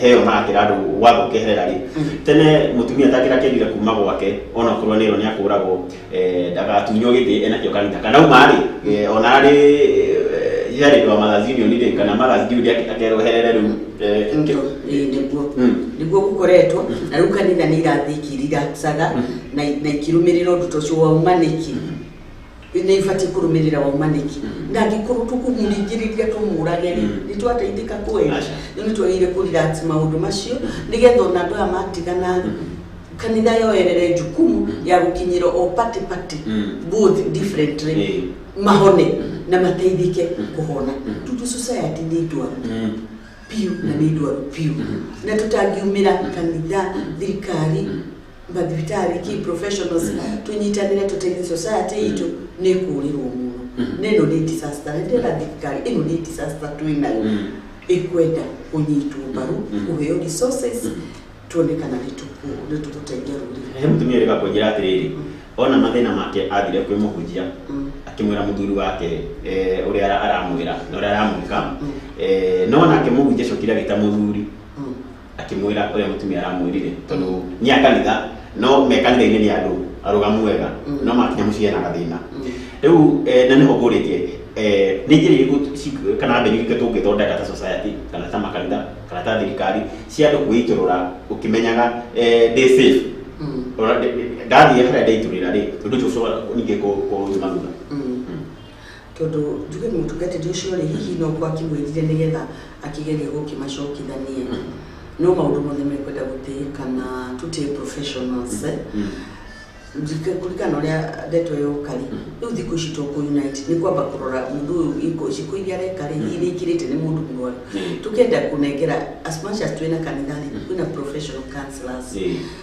heo na akira andu watho keherera ri tene mutumia takira kerire kuma gwake ona kurwa nero ni akuragwo ndagatunyo giti ena kio kanitha kana uma ri ona ri yari ndo magazini oni ri kana magazini ri akerwo herere ru Ndio, eh, niguo niguo gukoretwo na riu kanitha nä irathikiri iracatha na na ikirumirira undu ta ucio waumaniki Nĩ ibatiĩ kũrũmĩrĩra waumanĩki na angĩkorwo tũkũmũringĩrĩria tũmũrage rĩ nĩ twateithĩka kweli Aca. rĩu nĩ twagĩrĩire kũ relax maũndũ macio nĩgetha ona andũ aya matigana rĩ kanitha yoerere njukumu ya gũkinyĩra o party party both differently Eh. mahone na mateithĩke kũhona tutu society nĩ ndwaru biũ na nĩ ndwaru biũ na tũtangiumĩra kanitha thirikari mbathibitari key professionals tunyitanire tuteithie society itũ nĩ kũũrĩrwo mũno na ĩno nĩ disaster nĩ ndĩra thirikari ĩno nĩ disaster twĩ nayo ĩkwenda kũnyitwo mbaru kũheo resources tuone kana nĩ tũkũ- nĩ tũgũteithia rũrĩrĩ he mũtumia ũrĩka kwenjera atĩrĩrĩ ona mathĩna make athire kwĩ mũhunjia Mm. akĩmwĩra mũthuri wake eh, ũrĩa ara- aramwĩra na ũrĩa aramwĩka Mm. Eh, no nake mũhunjia acokire agĩta mũthuri Akĩmwĩra ũrĩa mũtumia aramwĩrire, tondũ nĩ a kanitha, no me kanitha-inĩ nĩ andũ arũgamu wega, no makinya mũciĩ hena gathĩna. Rĩu eh, na nĩho ngũrĩtie eh, nĩ njĩra irĩkũ ci- kana mbeũ irĩkũ tũngĩthondeka ta society kana ta makanitha kana ta thirikari cia andũ kwĩitũrũra ũkĩmenyaga eh, ndĩ safe Ũra- ndathiĩ harĩa ndeitũrĩra rĩ ũndũ ũcio ũcoka ningĩ kũ- kũnjuma thutha Mm. Tondũ njuge mũtungatĩri ũcio rĩ hihi no gũkorwo akĩmwĩrire nĩgetha akĩgerie gũkĩmacokithania no maũndũ mothe mekwenda gũtĩĩkana tũtĩ professionals eh? Njike kũringana ũrĩa ndeto ĩyo ũkari rĩu thikũ ici to kũ unite nĩ kwamba kũrora mũndũ ũyũ iko ciko iria areka rĩ iria ikirĩte nĩ mũndũ mũrwaru tũkenda kũnengera as much as twĩna kanitha rĩ kwĩna professional counselors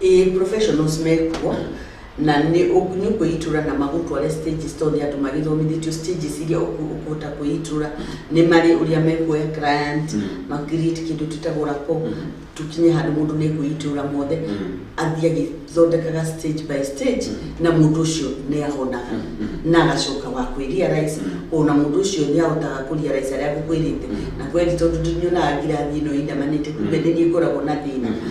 Ĩĩ professionals mekuo na nĩ ũk- nĩ ũkwĩitũra na magũtware stages tondũ nĩ andũ magĩthomithĩtio stages iria ũkũ- ũkũhota kwĩitũra nĩ marĩ ũrĩa mekuoya client Mm. makirĩte kĩndũ twĩtagwo rako Mhm. tũkinye handũ mũndũ nĩ kwĩitũra mothe Mm. athiĩ agĩthondekaga stage by stage Mhm. na mũndũ ũcio nĩ ahonaga Mhm. na agacoka wa kwĩria rais Mhm. ona mũndũ ũcio nĩ ahotaga kũria rais arĩa ngũkwĩrĩte Mhm. na kweli tondũ ndinyonaga ngirathi ĩno ĩindamanĩte kumbe Mhm. nĩ niĩ ngoragwo na thĩna Mhm.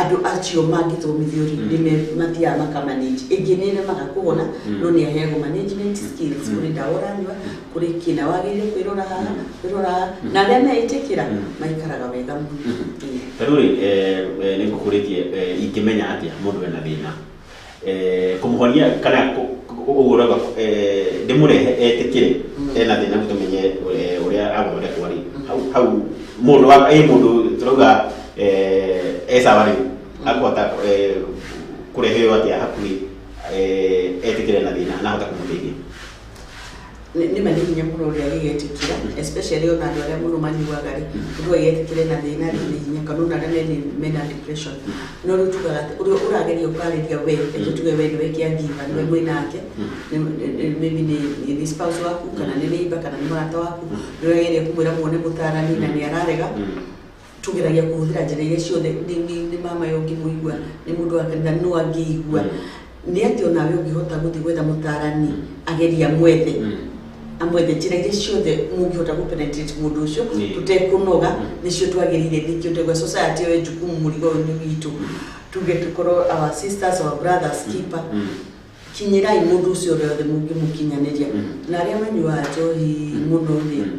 andå acio mangĩthomithio rĩ nĩ me- mathiaga makamanage ĩngĩ nĩ remaga kũhona no nĩ aheagwo management skills kũrĩ ndawa ũranyua kũrĩ kĩna wagĩrĩire kwĩrora haha kwĩrora haha na arĩa meĩtĩkĩra maikaraga wega mũno Ĩĩ. tarä rä nä ngå kå rä tie ingä menya atä a må ndå ena thä na Eh, kũmũhonia kana kũ- kũ- ũguo rauga eh, ndĩmũrehe etĩkĩre ena thĩna gũtũmenye eh, ũrĩa agũthondekwo rĩ hau hau mũndũ wa ĩ mũndũ tũrauga eh, e sawa rĩ akũhota eh, kũrehe ũyũ atĩa hakuhĩ eh, etĩkĩre na thĩna na ahota kũmũteithia nĩ ma nĩ hinya mũno ũrĩa gĩgetĩkĩra especially ona andũ arĩa mũno manyuaga rĩ mũndũ agetĩkĩre na thĩna rĩ nĩ hinya kana ona arĩa mena- mena depression no rĩu tugaga atĩ ũrĩa ũrageria ũkarĩria we reke tuge we nĩwe kĩangiva nĩwe mwĩ nake nĩ- nĩ- nĩ- maybe nĩ- nĩ nĩ spouse waku kana nĩ neighbor kana nĩ mũrata waku nĩ ũrageria kũmwĩra muone mũtarani na nĩ ararega tũgeragia kũhũthĩra njĩra iria ciothe nĩ nĩ- nĩ mama yo ngĩmũigua nĩ mũndũ wa kanitha nũ angĩigua nĩ atĩ onawe ũngĩhota gũthiĩ gwetha mũtarani ageria mwethe Mm. amwethe njĩra iria ciothe mũngĩhota gũpenetrate mũndũ ũcio Nĩ. tũtekũnoga nĩcio twagĩrĩire ningĩ ũtegwa society ĩyo njukumu mũrigo ũyũ nĩ witũ tuge tũkorwo our sisters our brothers keeper Mm. kinyirai mundu ucio rĩothe mũngĩmũkinyanĩria Mm. na arĩa manyuaga njohi mũno rĩ Mm.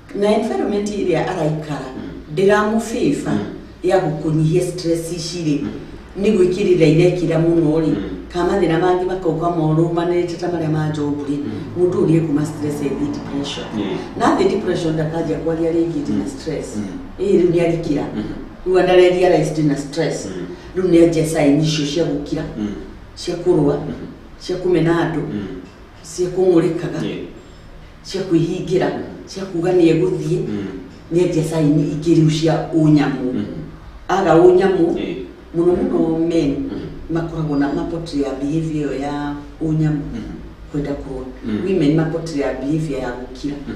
na environment ĩrĩa araikara ndĩramũbĩba ya gũkũnyihia stress ici rĩ nĩ gwĩkĩrĩra irekĩra mũno rĩ kamathĩna mangĩ makauka morũmanĩte ta marĩa ma njogu rĩ mũndũ ũrĩa kuma stress ĩthiĩ depression Yeah. na athiĩ depression ndakanjia kwaria rĩngĩ ndĩ na stress ĩĩ rĩu nĩ arikira rĩu andareria rais ndĩ na stress rĩu nĩ anjia saini icio cia gũkira cia kũrũa cia kũmena andũ cia kũmũrĩkaga Yeah. cia kwĩhingĩra cia kuga nĩ egũthiĩ Mm. nĩ endia caini ingĩ rĩu cia ũnyamũ Mm. aga ũnyamũ Yeah. mũno mũno men Mm. makoragwo na mapotri ya behavior ĩyo ya ũnyamũ Mm. kwenda kũrũa Mm. women mapotri ya behavior ya gũkira Mm.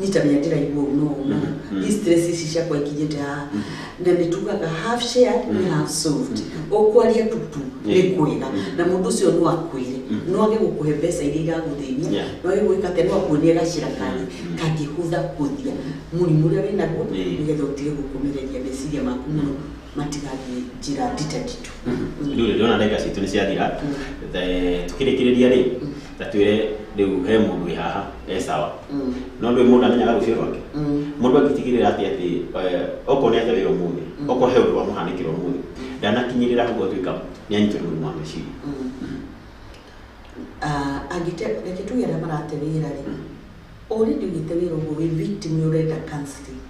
nyitanĩra ndĩraigua ũru no ũna Mhm. these stress ici ciakwa ikinyĩte haha na nĩ tugaga half shared nĩ half solved ũkwaria tutu nĩ Yeah. kwega Mhm. na mũndũ ũcio no akwĩre Mhm. no age gũkũhe mbeca iria igagũthĩnia Yeah. no age gwĩka atĩ no akuonie gacira kangi Mhm. kangĩhũtha kũthia mũrimũ ũrĩa wĩnaguo Yeah. nĩgetha ũtige gũkũmĩrĩria meciria maku mũno matigathiĩ njĩra ndita nditũ Mhm. rĩu rĩrĩ ona ndagĩka citũ nĩ ciathira Mm. The- tũkĩrĩkĩrĩria rĩ ta twire riu he mundu wi haha e sawa Mm. no ndwi mundu amenyaga rucio rwake Mm. mundu angitigirira ati ati eh, okorwo ni aja wira umuthi Mm. okorwo he undu wamuhanikira umuthi ndanakinyirira hau atuika ni anyitwo ni murimu wa meciria Mm. Ah, angĩte reke tuge arĩa marate wĩra rĩ ũrĩndi ũnyite wĩra ũguo wĩ victim nĩ ũrenda counseling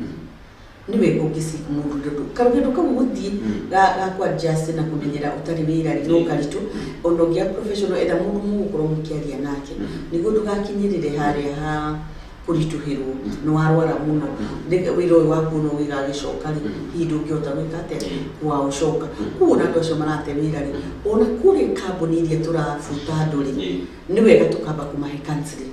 niwe ũngĩci mũndũ ndũ karuge ndũ kau gũthiĩ ga ga kwa just na kũmenyera ũtarĩ wĩra rĩ no karitũ ona ũngĩa professional etha mũndũ mũgũkorwo mũkĩaria nake nĩguo ndũgakinyĩrĩre harĩa ha kũritũhĩrwo nĩ warwara mũno Nĩ- wĩra ũyũ waku no wĩgagĩcoka rĩ hihi ndũngĩhota gwĩka atĩa waũcoka kuo na andũ acio marate wĩra rĩ ona kũrĩ kambuni iria tũrabuta andũ rĩ nĩ wega tũkamba kũmahe counseling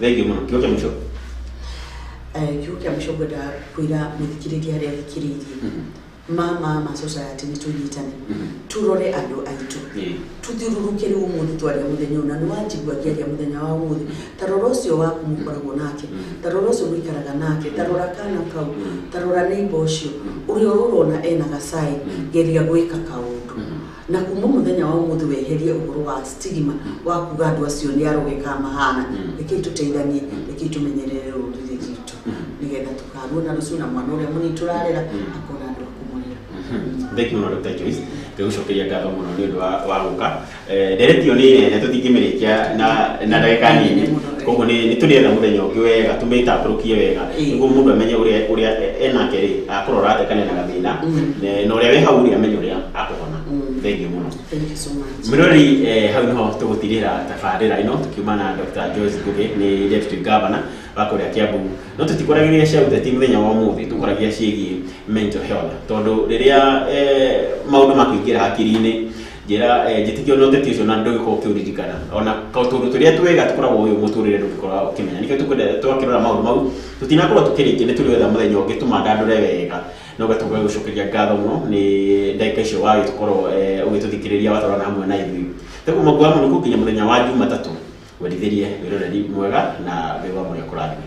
thengiå må no kä å kä må cio kiugo kĩa mũico ngwenda kwĩra mũthikĩrĩria arĩa athikĩrĩirie mama ma society nĩ tũnyitane tũrore andũ aitũ tũthiũrũrũke rĩu ũmũthĩ twaria mũthenya ũna nĩ wanjigua ngĩaria mũthenya wa ũmũthĩ ta rora ũcio waku mũkoragwo nake ta rora ũcio mũikaraga nake ta rora kana kau ta rora neighbor ũcio ũrĩa ũrona ena gacai geria gwĩka kaũndũ na kuma mũthenya wa ũmũthĩ weherie ũhoro wa stigma wa kuga andũ acio nĩ arogeka mahana Mm. rekei tũteithanie Mm. rekei tũmenyerere rũrĩrĩ rwitũ Mm. nĩgetha tũkaruo na rũciũ na mwana ũrĩa mũnini tũrarera Mm. akona andũ a kũmũrera thank you mũno Dr. Joyce ngĩgũcokeria ngatho mũno nĩ ũndũ wa wa gũka Eh, nderetio nĩ nene tũtingĩmĩrĩkia na na ndagĩka nini koguo nĩ nĩ tũrĩetha mũthenya ũngĩ wega tũmĩtambũrũkie wega Ĩĩ. nĩguo mũndũ amenye ũrĩa ũrĩa e- enake rĩ akorwo arathekania na gathĩna Mm. na- na ũrĩa wĩ hau rĩ amenye ũrĩa akũhona Mm. thengiũ mũno Thank you so much. Mĩrori eh, hau nĩho tũgũtirĩra tabarĩra ĩno tũkiuma na Dr. Joyce Ngugi nĩ Deputy Governor wa kũrĩa Kiambu no tũtikoragĩria cia ũteti mũthenya wa ũmũthĩ tũkoragia ciĩgiĩ mental health tondũ rĩrĩa eh, maũndũ makũingĩra hakiri-inĩ njĩra eh, njĩtĩkia ona ũteti ũcio na ndũgĩkorwo ũkĩũririkana ona ka- tũũndũ tũrĩa twega tũkoragwo ũyũ mũtũrĩre ndũngĩkorwo ũkĩmenya nĩkĩo tũkwenda twakĩrora maũndũ mau tũtinakorwo tũkĩrĩkia nĩ tũrĩwetha mũthenya ũngĩ tũmandandũre wega na ũgatuga gũcokeria ngatho mũno nĩ ndagĩka icio wagĩtũkorwo eh, ũgĩtũthikĩrĩria watwarana hamwe na ithuĩ tũguo mũngu wa mũnukũ nginya mũthenya wa jumatatũ wendithĩrie wĩroreri mwega na wĩwa mũrĩa kũrathime